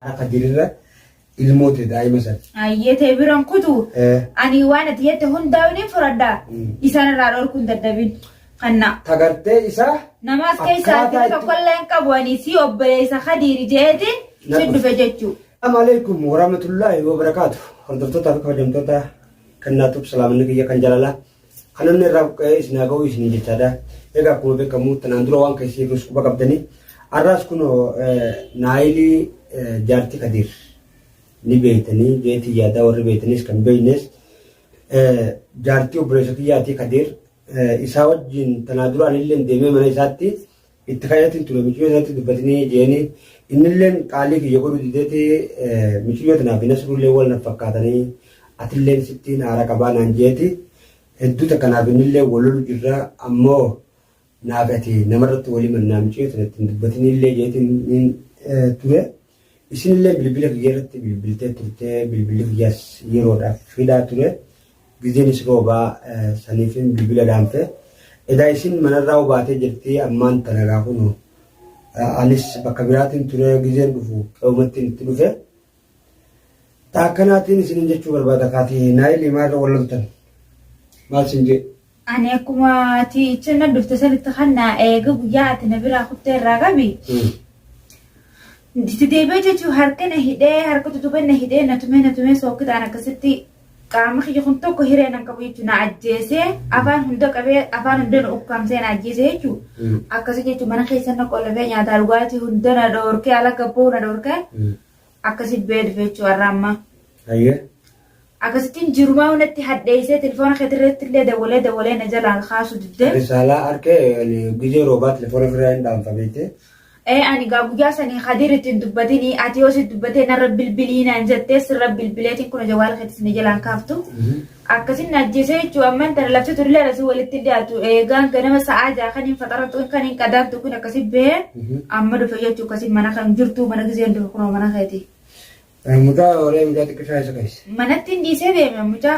Hafa jirirra ilmoo tee daa'ima san. Ayyee ta'e biran kutu Eh, ani waan ati jette hundaa'u ni fudhadha. Mm. Isaan irraa dhorkuun dadhabin. Kanna. Tagartee isaa Namaas keessaa Akkaataa itti itti- tokkollee hin qabu ani si obboleessa Khadiiri jeetiin si Naqus. dhufe jechuu. Assalamu alaikum warahmatullahi wabarakatuh. Hordoftoota fi kabajamtoota kennaa tub salaamanni kiyya kan jaalalaa. Kan namni irraa buqqa'ee isin haa ga'u isin jechaadha. Egaa akkuma beekamu tanaan dura waan keessi irrus quba qabdanii. Har'aas kun naayilii jaartii kadiir ni beektanii jeetii yaadaa warri beektanis kan beeknes jaartii obboleessa kiyyaatii kadiir isaa wajjin tanaa duraan illee deemee mana isaatti Itti kayyatiin ture michuyyoo sanatti dubbatinii jeeni innilleen qaalii kiyya godhu dideeti michuyyoo tanaaf hin asruullee wal naf fakkaatanii atilleen sittiin haara qabaa naan jeeti hedduu takka naaf innillee wal lolu jirra ammoo naaf ati namarratti walii mannaa michuyyoo sanatti hin dubbatinillee jeetiin ture. Isinillee bilbila kiyya irratti bilbiltee turtee bilbilli kiyyas yeroodhaaf fidaa ture gizeenis roobaa saniifin bilbila dhaamte edaa isin manarraa hubaatee jirti ammaan tana egaa kunoo anis bakka biraatiin ture gizeen dhufu qe'umattiin itti dhufe taakkanaatiin isinin jechuu barbaada kaati naayilii maarra wal loltan maal sin jedhu Ani akkuma ati ichi na dhufte sanitti kan na eege guyyaa ati na biraa kuttee irraa qabi. Itti deebi'ee jechuun harka na hidhee harka tutubee na hidhee na tumee na tumee sookkitaan akkasitti qaama kiyya kun tokko hiree nan qabu jechuun na ajjeesee afaan hunda qabee afaan hunda na ukkaamsee na ajjeesee jechuun akkasii jechuun mana keessa na qollabee nyaataa dhugaatii hunda na dhoorkee ala gabboo na dhoorkee Akkasi bee dhufeechuu har'a ammaa. Hayyee. Akkasittiin jirumaa hunatti hadheessee telefoona keetirratti illee dawalee dawalee na jalaa kaasuu diddee. Risaalaa harkee gizee roobaa telefoona ofirraa hin dhaanfameettee. Ee ani gaa guyyaa sanii Kadir ittiin dubbatinii ati yoo si dubbatee narra bilbilii naan jettee sirra bilbileetiin kun jawaala keetis na jalaan kaaftu. Akkasin na ajjeese jechuun amma intala labsa turlee alasii walitti hin dhiyaatu eegaan ganama sa'aa ja'a kan hin faxaratu kan hin qadaantu kun akkasi bahee amma dhufe jechuun akkasi mana kan jirtu mana gizeen dhufe kunoo mana keeti. Mucaa oolee mucaa xiqqishaa isa keessa. Manatti hin dhiisee deeme mucaa.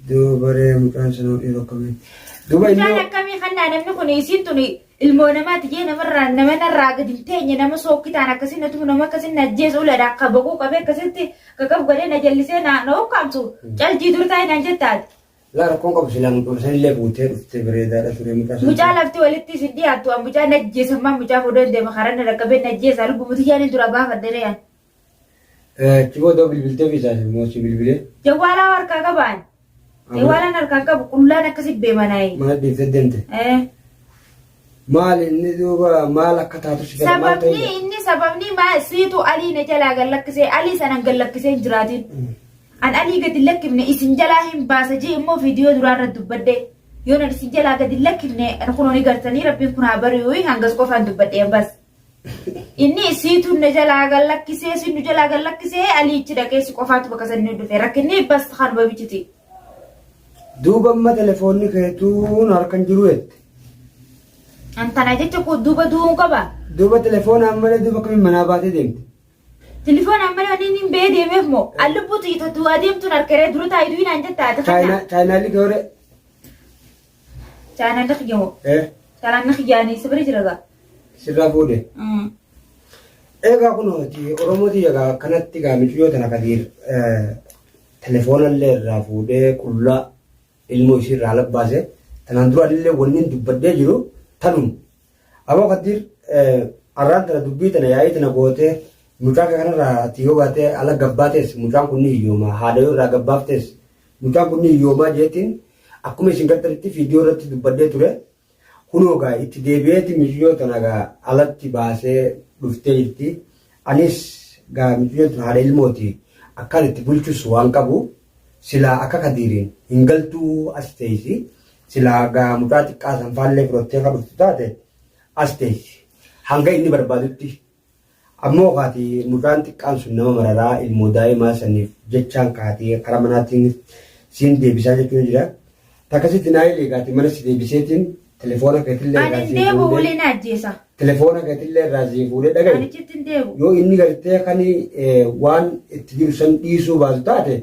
Duubaree mucaan sanuu dhiiroo akkamitti. Duuba Mucaan inni akkamii kan naa namni kun isiin tuni Ilmoo namaa tiyee namarraa nama narraa gadi hin teenye nama sookkitaan akkasii na tumu nama akkasii na ajjeesu uladha akka baquu qabee akkasitti kakaf godhee na jallisee na na ukkaamsu caltii dur taa'e naan jettaati. Laa rakkoon qabu silaa mucuma san illee buutee dhuftee bareedaadha ture mucaa san. Mucaa lafti walitti isin dhiyaattu an mucaa na ajjeesan maa mucaa fuudhee deema karaa na dhaqqabee na ajjeesa lubbuu tiyyaan dura baafadhe re'an. Cimoo ta'uu bilbiltee biisaas immoo si bilbilee. Jawwaalaa harkaa qabaan. Jawwaalaan harkaan qabu qullaan akkasi beemanaa'e. Maal dhiiftee deemte? Maal inni duuba maal akka taatu si gara maal ta'e? Sababni inni sababni maa siitu alii na jalaa gad lakkisee alii sanan gad lakkisee hin jiraatin. An alii gad hin lakkifne isin jalaa hin baasa jee immoo viidiyoo duraa irra dubbadde. Yoo nan isin jalaa gad hin lakkifne kunoo ni gartanii rabbiin kun haa bari'u hangas qofaan dubbadhe bas. Inni isiitu na jalaa gad lakkisee si nu jalaa gad lakkisee aliichi dhaqee si qofaatu bakka san nu dhufe rakkinni bas kan babichiti. Duuba amma telefoonni keetuun harkan jiru jette. Antana jecha koo duuba du'uun qaba. Duuba telefoona ammallee duuba akkamiin manaa baatee deemte. Telefoon ammallee wanni inni hin ba'ee deemeef moo an lubbuutu itattu adeemtuun harkaree dura taayituu hinaan jetta ati kana. Chaayinaalli kee horee. Chaanalli kiyya hoo? Eh, Chaanalli kiyya ani si bira jira gaa? sirraa fuudhe. Mm. Egaa kun hojii Oromooti egaa kanatti egaa miciyoo tana kadiir telefoonallee irraa fuudhee qullaa ilmoo ishii irraa labbaase tanaan dura illee wanni hin dubbadhee jiru tanum. Aboo kadiir arraan tana dubbii tana yaa'ii tana gootee mucaa kee kanarraa ati yoo baatee ala gabbaatees mucaan kun hiyyooma haadha yoo irraa gabbaaftees Mucaan kun ni hiyyoomaa jeetiin akkuma isin gattaritti fiidiyoo irratti dubbadhee ture. Kunoo gaa itti deebi'eeti miyyoo tana gaa alatti baasee dhuftee jirti. Anis gaa miyyoo tana haadha ilmooti akkaan itti bulchus waan qabu silaa akka kadiiriin hin galtuu as teessi. Silaa gaa mucaa xiqqaa san faallee fudhattee akka dhuftu taate as teessi. Hanga inni barbaadutti Ammoo kaati mucaan xiqqaan sun nama mararaa ilmoo daa'imaa saniif jechaan kaati karaa manaatiin siin deebisaa jechuun jira. Takkasitti naa eege kaati mana si deebiseetiin telefoona keetillee Ani irraa hin sii deemu fuudhee ulee na ajjeesa. telefoona keetillee irraa sii fuudhee dhagahi. Ani chitti hin deemu. yoo inni gartee kan eh, waan itti jiru san dhiisuu baatu taate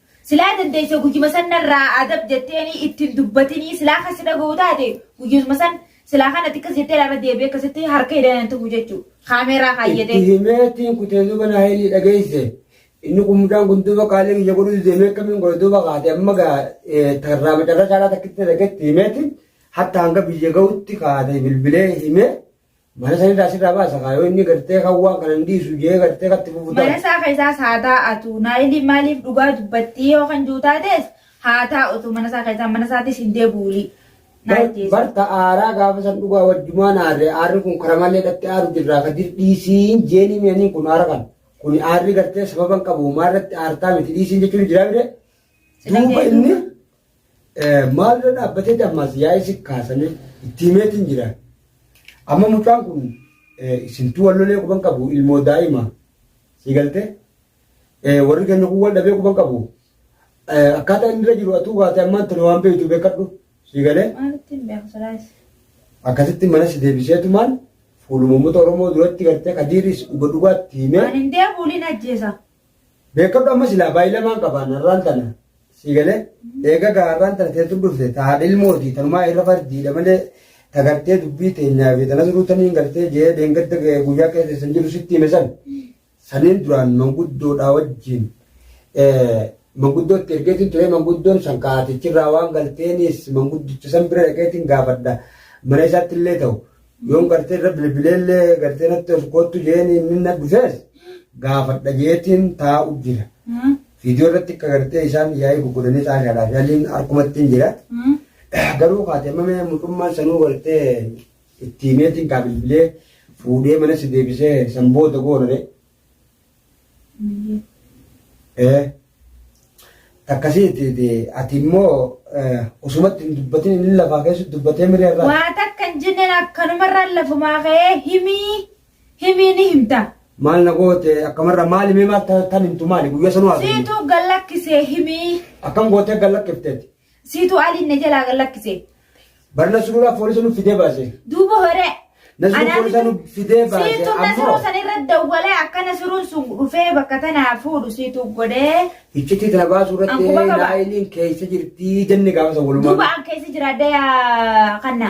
Silaa dandeessee guyyuma san narraa adab jetteenii ittiin dubbatinii silaa kan si dhaga'u taate guyyuma san silaa kan ati akkas jettee lafa deebi'ee akkasitti harka hidhanii tufu jechuudha. Kaameeraa kaayyatee. Itti himee ittiin kutee duuba naa hidhii dhageesse. Inni kun mucaan kun duuba qaalee biyya godhu deemee akkamiin godha duuba kaate amma gaa tarraa macarra caalaa takkitti dhageetti himeeti hatta hanga biyya ga'utti kaate bilbilee himee. Mana sanirraa sirraa baasa kaa yoo inni gartee kan waan kana hin dhiisu jee gartee katti fufu Mana taate. isaa keessaas haa taa'atu. Naayiliin maaliif dhugaa dubbattii yoo kan jiru taates haa taa'utu mana isaa keessaa mana isaatis hin deebi'uuli. Naa Bar- ajjeesa. Barta aaraa gaafa san dhugaa wajjumaan aarree aarri kun karaa malee dhatti aaru jirraa ka dhiisiin jeenii mi'anii kun aara kan. Kun aarri gartee sababan qabu maarratti aartaa miti dhiisiin jechuun jiraa bire. Sila Duuba kee inni duuba. Maal irra dhaabbatee dammaas yaa'ee si kaasanii itti himeetiin jira. Amma mucaan kun isintuu wal lolee quban qabu ilmoo daa'ima si galte warri keenya kun wal dhabee quban qabu akkaataa inni irra jiru atuu kaatee ammaan tuni waan beektu beekadhu si galee Waan ittiin beeku sadaas. akkasitti mana si deebiseetumaan fuuluma uummata Oromoo duratti gartee kadiiris dhuga dhugaatti himee Ani hin deebi'uun hin ajjeesa. Beekkadhu amma silaa baay'ee lamaan qabaan har'aan tana sii galee eega gaa har'aan tana teetu dhufte ta haadha ilmooti tanumaa irra fardiidha malee ta gartee dubbii teenyaa fi tanas ruutaniin gartee jee deengadda guyyaa keessa san jiru sitti hime san saniin duraan manguddoodhaa wajjin manguddootti ergeetiin ture manguddoon san kaatichirraa waan galteenis manguddicha san bira dhaqeetiin gaafadha mana isaatti illee ta'u Yoon gartee irra bilbileellee gartee natti ol koottu jeeni inni na dhufees gaafadha jeetiin taa'u jira. Viidiyoo irratti akka gartee isaan yaa'ii gurguranii xaashaadhaa fi aliin harkumatti hin jira. Garuu kaatee mamee mucummaan sanuu gartee itti himeetiin kaa bilbilee fuudhee mana si deebisee san booda goonare. Eh, Akkasiiti ati immoo eh, osumatti hin dubbatin inni lafaa keessatti dubbatee mirii irraa. Waa takka hin jenneen akkanumarraan lafumaa ka'ee himii himii ni himta. Maal na goote akkamarra maali mee maal ta- tan himtu maali guyyaa sanuu haasofne. Siituu gallakkisee himii. Akkam gootee gallakkifteeti. Siitu aliin na jalaa gad lakkise. Barna sururaa foolisa nu fidee baase. Duuba horee. Nasiruu Anaa foolisa bitu- nu fidee baase. Siitu Ammoo nasiruu san irra dawwalee akka nasiruun sun dhufee bakka tanaa fuudhu siitu godhee. iccitii tana baasuu irratti Ankuba qaba. naayiliin keessa jirtii jenne gaafa san walumaa. Duuba an keessa jira daya kanna.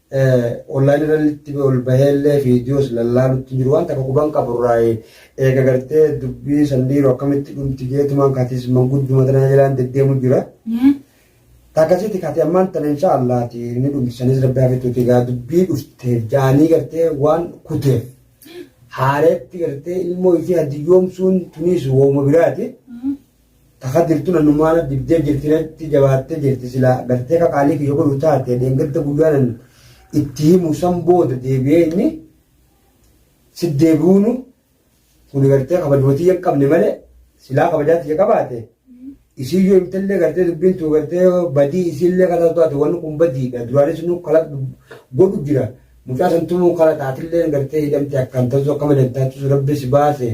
online irratti ol baheellee viidiyoos lallaalutti jiru waan takka quban qabu irraa eega gartee dubbii sandiiru akkamitti dhumti jeetumaan katis mangudduma tanaa jalaan deddeemu jira. Takkasitti kati ammaan tana insha Allaati ni dhumti sanis rabbi hafituuti gaa dubbii dhufteef jaanii gartee waan kuteef haareetti gartee ilmoo isii hadiyyoomsuun tuniis wooma biraati. Taka jirtu nanumaana dibdee jirti natti jabaattee jirti silaa gartee kakaalii kiyya godhu taate dheengadda guyyaanan itti himu san booda deebi'ee inni si deebi'uunu kun gartee kabajuma tiyya hin qabne malee silaa kabajaa tiyya qabaate isiin yoo himtallee gartee dubbiin tuu gartee badii isiillee kana taate wanni kun badiidha duraanis nu kala godhu jira mucaa santumuu kala taatillee gartee hidhamte akkaan tasu akka malee taatu rabbi si baase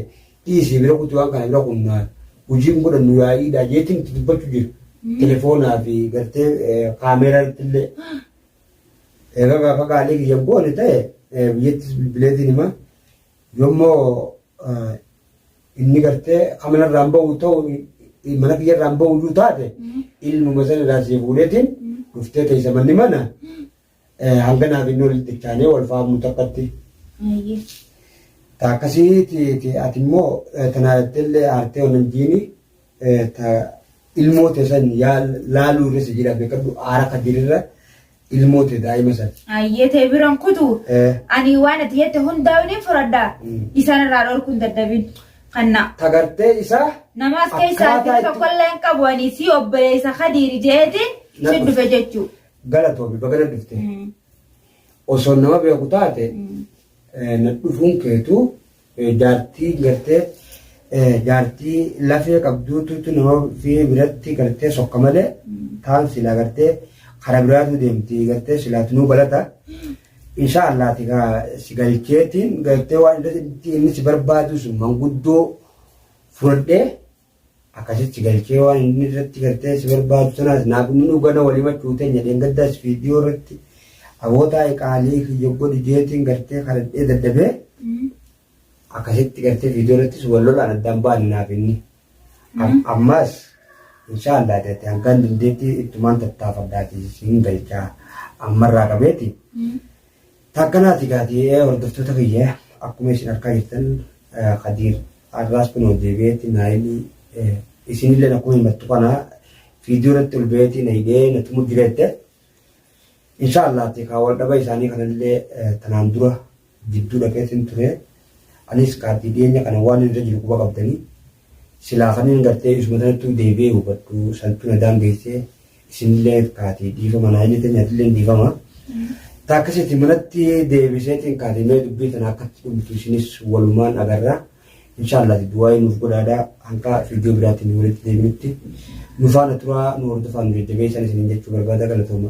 Dhiisii bira kutii waan kana bira kunnaa hujii hin godhannu yaa'iidha jeetiin itti dubbachu jira. Telefoonaa fi gartee kaameeraa irratti illee egaa gaafa gaalee kiyyan goone ta'e biyyattis bilbileetiin hima yommoo inni gartee kamana irraan ba'u ta'u mana kiyya irraan ba'u iyyuu taate ilmuma sana irraa siif fuudheetiin dhuftee teessa manni mana Hanganaaf inni walitti ittaanee wal faamnu takkatti. Ayyee. Ta akkasii ti ti ati immoo tanaa jetteellee aartee wannan jiini ta ilmoo tee san yaa laaluu irra si jira beekadhu aara kadirirra ilmoo tee daa'ima san. Ayyee ta'e biran kutu. Eh. Ani waan ati jette hundaa waliin furadhaa. Mm. Isaan irraa dhorkuun dadhabin. Kanna. Ta gartee isaa Namaas keessaa Akkaataa itti itti- tokkollee hin qabu ani si obboleessa kadiiri jeetiin si Naqus. dhufe jechuu. Galatoomi baga na dhufte. Osoo nama beeku taate eh, na dhufuun keetu eh, jaartii gartee eh, jaartii lafee qabduutu nama fi biratti gartee sokka malee taan silaa gartee kara biraatu deemti gartee silaatu nuu galata. Insha Allah ati gaa si galcheetiin gartee waan inni si barbaadu sun manguddoo fudhadhee Akasitti galchee waan inni irratti gartee si barbaadu sanaas naa guminuu gana wal himachuu teenya dheengaddaas viidiyoo irratti aboo taa'i qaalii kiyya godhi jeetiin gartee kadhadhee dadhabee akasitti gartee viidiyoo irrattis wal lolaan addaan baane naaf inni ammaas inshaallah teetti hangaan dandeetti ittumaan tattaafadhaati siin galchaa ammarraa qabeeti Taakkalaati gaati hordoftoota kiyya akkuma isin arkaa jirtan Kadiir har'aas kunoo deebi'eetti naayilii isinillee akkuma himattu kana fiidiyoo irratti ol ba'eetti na hidhee na tumu jireette insha Allah ati kaa wal dhaba isaanii kanallee tanaan dura jidduu dhaqeetiin ture anis kaati dhiyeenya kana waan irra jiru quba qabdanii Silaa kanin gartee isuma tanattuu deebi'ee hubadhu santu na daangeesse isinillee kaatii dhiifama naa jette nyatilleen dhiifama. Ta akkasitti manatti deebiseetiin kaatii mee dubbii tana akkatti dhumtu isinis walumaan agarra. Inshaallaati du'aayii nuuf godhaadha hanga fiidiyoo biraatti nu walitti deebinutti nu faana turaa nu hordofaa nu jajjabeessan isinin jechuu barbaada galatooma.